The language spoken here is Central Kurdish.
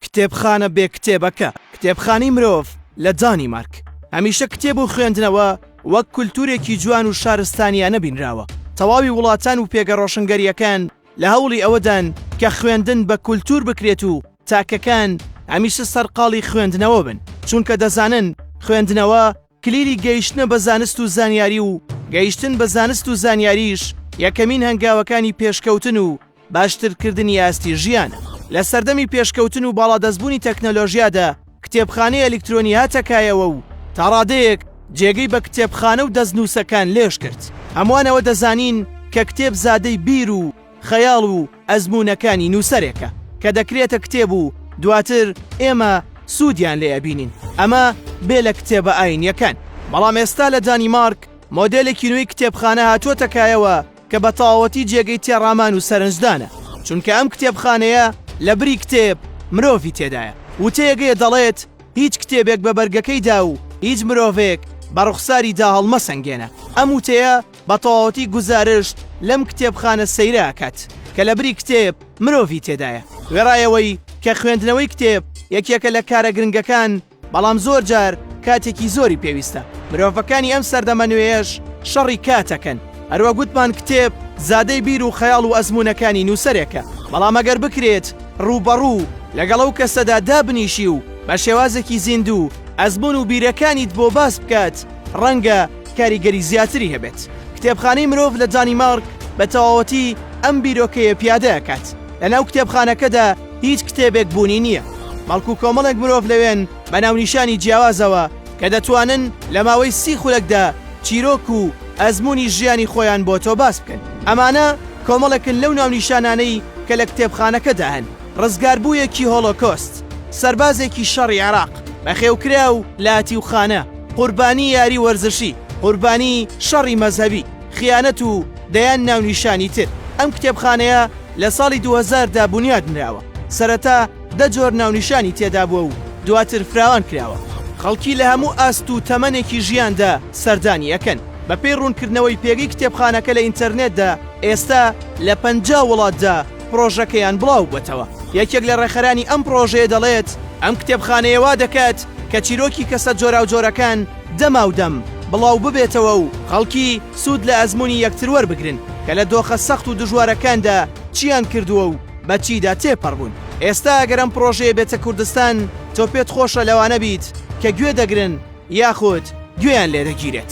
کتێبخانە بێ کتێبەکە کتێبخانەی مرۆڤ لە دانیمارک هەمیشە کتێب و خوێندنەوە وەک کولتوورێکی جوان و شارستانیانە بینراوە، تەواوی وڵاتان و پێگە ڕۆشنگەرییەکان لە هەوڵی ئەوەدان کە خوێندن بە کولتوور بکرێت و تاکەکان هەمیشە سەرقاڵی خوێندنەوە بن، چونکە دەزانن خوێندنەوە کلیلی گەیشتنە بە زانست و زانیاری و گەیشتن بە زانست و زانیاریش یەکەمین هەنگاوەکانی پێشکەوتن و باشترکردنی ئاستی ژیانە. لە سەردەمی پێشکەوتن و باڵادەستبوونی تەکنەلۆژیادا کتێبخانەی ئەلیکترۆنی هاتە کایەوە و تا ڕادەیەک جێگەی بە کتێبخانە و دەستنووسەکان لێژ کرد. هەمووان ئەوە دەزانین کە کتێب زادەی بیر و خەیاڵ و ئەزموونەکانی نووسەرێکە کە دەکرێتە کتێب و دواتر ئێمە سوودیان لێ ئەبینین، ئەمە بێ لە کتێبە ئاینییەکان. بەڵام ئێستا لە دانیمارک مۆدێلێکی نوێی کتێبخانە هاتووەتە کایەوە کە بە تەواوەتی جێگەی تێڕامان و سەرنجدانە، چونکە ئەم کتێبخانەیە لە بری کتێب مرۆڤی تێدایە. وتەیەک هەیە دەڵێت، هیچ کتێبێک بە بەرگەکەیدا و هیچ مرۆڤێک بە ڕوخساریدا هەڵمەسەنگێنە. ئەم وتەیە بە تەواوەتی گوزارشت لەم کتێبخانە سەیرە ئەکات کە لە بری کتێب مرۆڤی تێدایە. وێڕای ئەوەی کە خوێندنەوەی کتێب یەکێکە لە کارە گرنگەکان، بەڵام زۆر جار کاتێکی زۆری پێویستە. مرۆڤەکانی ئەم سەردەمە نوێیەش شەڕی کاتەکەن. هەروەک وتمان کتێب زادەی بیر و خەیاڵ و ئەزموونەکانی نووسەرێکە، بەڵام ئەگەر بکرێت ڕووبەڕوو لەگەڵ ئەو کەسەدا دابنیشی و بە شێوازێکی زیندوو ئەزموون و بیرەکانیت بۆ باس بکات، ڕەنگە کاریگەری زیاتری هەبێت. کتێبخانەی مرۆڤ لە دانیمارک بە تەواوەتی ئەم بیرۆکەیە پیادە ئەکات. لە ناو کتێبخانەکەدا هیچ کتێبێک بوونی نییە، بەڵکو کۆمەڵێک مرۆڤ لەوێن بە ناونیشانی جیاوازەوە کە دەتوانن لە ماوەی سی خولەکدا چیرۆک و ئەزموونی ژیانی خۆیان بۆ تۆ باس بکەن. ئەمانە کۆمەڵێکن لەو ناونیشانانەی کە لە کتێبخانەکەدا هەن. ڕزگاربوویەکی هۆڵۆکۆست، سەربازێکی شەڕی عێراق، بەخێوکراو، لاتیوخانە، قوربانی یاری وەرزشی، قوربانی شەڕی مەزهەبی، خیانەت و دەیان ناونیشانی تر. ئەم کتێبخانەیە لە ساڵی دوو هەزار دا بونیاد نراوە، سەرەتا دە جۆر ناونیشانی تێدا بووە و دواتر فراوان کراوە. خەڵکی لە هەموو ئاست و تەمەنێکی ژیاندا سەردانی ئەکەن. بەپێی ڕوونکردنەوەی پێگەی کتێبخانەکە لە ئینتەرنێتدا، ئێستا لە پەنجا وڵاتدا، پڕۆژەکەیان بڵاو بووەتەوە. یەکێک لە ڕێکخەرانی ئەم پڕۆژەیە دەڵێت، ئەم کتێبخانەیە وا دەکات کە چیرۆکی کەسە جۆراوجۆرەکان دەماودەم بڵاو ببێتەوە و خەڵکی سوود لە ئەزموونی یەکتر وەربگرن کە لە دۆخە سەخت و دژوارەکاندا چییان کردووە و بە چیدا تێپەڕبوون. ئێستا ئەگەر ئەم پڕۆژەیە بێتە کوردستان، تۆ پێت خۆشە لەوانە بیت کە گوێ دەگرن، یاخود گوێیان لێ دەگیرێت.